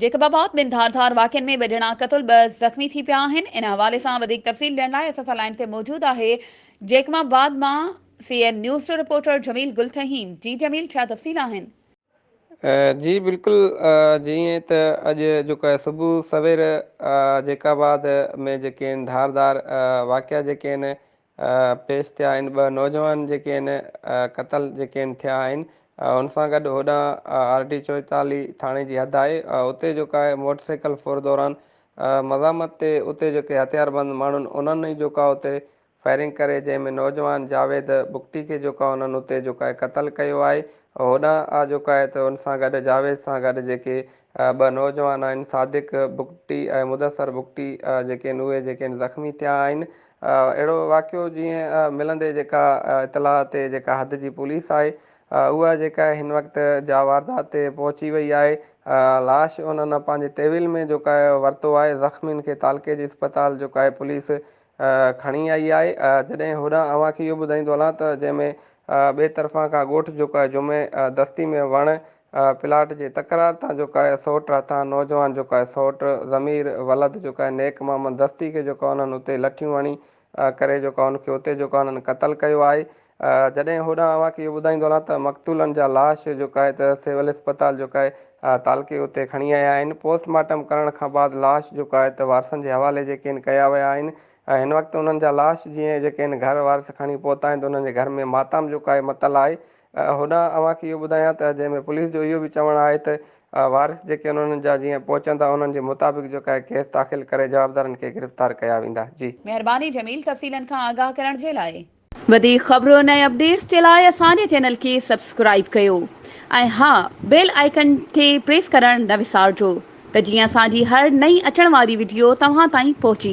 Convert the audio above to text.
Jacob آباد، ٻن ڌار ڌار واقعن ۾ ٻه ڄڻا قتل ٻه زخمي ٿي پيا آهن، ان حوالي سان وڌيڪ تفصيل ڏيڻ لاء اسان سان لائين تي موجود آهي جيڪب آباد مان سي اين نيوز جو رپورٽر جميل گل ٿهيم، جي جميل ڇا تفصيل آهن؟ جي بلڪل جيئن ته اڄ جو ڪه صبح سوير جيڪب آباد ۾ جيڪي ان ڌار ڌار واقعا جيڪي ان پيش ٿيا آهن ٻه نوجوان جيڪي ان قتل جيڪي ان ٿيا آهن ان سان گڏ هوڏانهن آر ڊي چوئيتاليهه ٿاڻي جي حد آهي اتي جيڪا آهي موٽر سائيڪل ڦر دوران مزاحمت تي اتي جيڪي هٿيار بند ماڻهن انهن ئي جيڪا اتي فائرنگ ڪري جنهن ۾ نوجوان جاويد بگٽي کي جيڪا انهن اتي جيڪا قتل ڪيو آهي هوڏانهن آ جيڪا آهي ته ان سان گڏ جاويد سان گڏ جيڪي ٻه نوجوان آهن صادق بگٽي ۽ مدثر بگٽي جيڪي ان اهي جيڪي ان زخمي ٿيا آهن اهڙو واقعو جيئن ملندي جيڪا اطلاع تي جيڪا حد جي پوليس آهي اها جيڪا هن وقت جا واردات تي پهچي وئي آهي لاش انهن پنهنجي تيويل ۾ جيڪا ورتو آهي زخمين کي تعلقي جي اسپتال جيڪا پوليس کڻي آئي آهي جڏهن هوڏانهن اوهان کي اهو ٻڌائيندو هلان ته جنهن ۾ ٻئي طرفان کان ڳوٺ جيڪا جمعي دستي ۾ وڻ پلاٽ جي تڪرار تان جوڪا اهي سوٽ راتان نوجوان جوڪا اهي سوٽ ضمير ولد جوڪا اهي نيڪ محمد دستي کي جوڪا انهن اتي لٺيون هڻي ڪري جوڪا ان کي اتي جوڪا انهن قتل ڪيو آهي جڏهن هوڏانهن اوهان کي اهو ٻڌائيندو هلان ته مقتولن جا لاش جوڪا اهي ته سول اسپتال جوڪا اهي تعلقي اتي کڻي آيا آهن پوسٽ مارٽم ڪرڻ کان بعد لاش جوڪا اهي ته وارثن جي حوالي جيڪي اهن ڪيا ويا آهن هن وقت انهن جا لاش جيئن جيڪي اهن گهر وارث کڻي پهتا آهن ته انهن جي گهر ۾ ماتام جوڪا اهي متل آهي هوڏانهن اوهان کي اهو ٻڌايان ته جنهن ۾ پوليس جو اهو به چوڻ آهي ته وارث جيڪي انهن جا جيئن پهچندا انهن جي مطابق جو ڪاهي ڪيس داخل ڪري جوابدارن کي گرفتار ڪيا ويندا جي. مهرباني جميل تفصيلن کان آگاهه ڪرڻ جي لاء. وڌيڪ خبرن ۽ اپڊيٽس جي لاء اسان جي چينل کي سبسڪرائيب ڪيو ۽ ها بيل آئيڪن کي پريس ڪرڻ نه وسارجو ته جيئن اسان جي هر نئين اچڻ واري وڊيو توهان تائين پهچي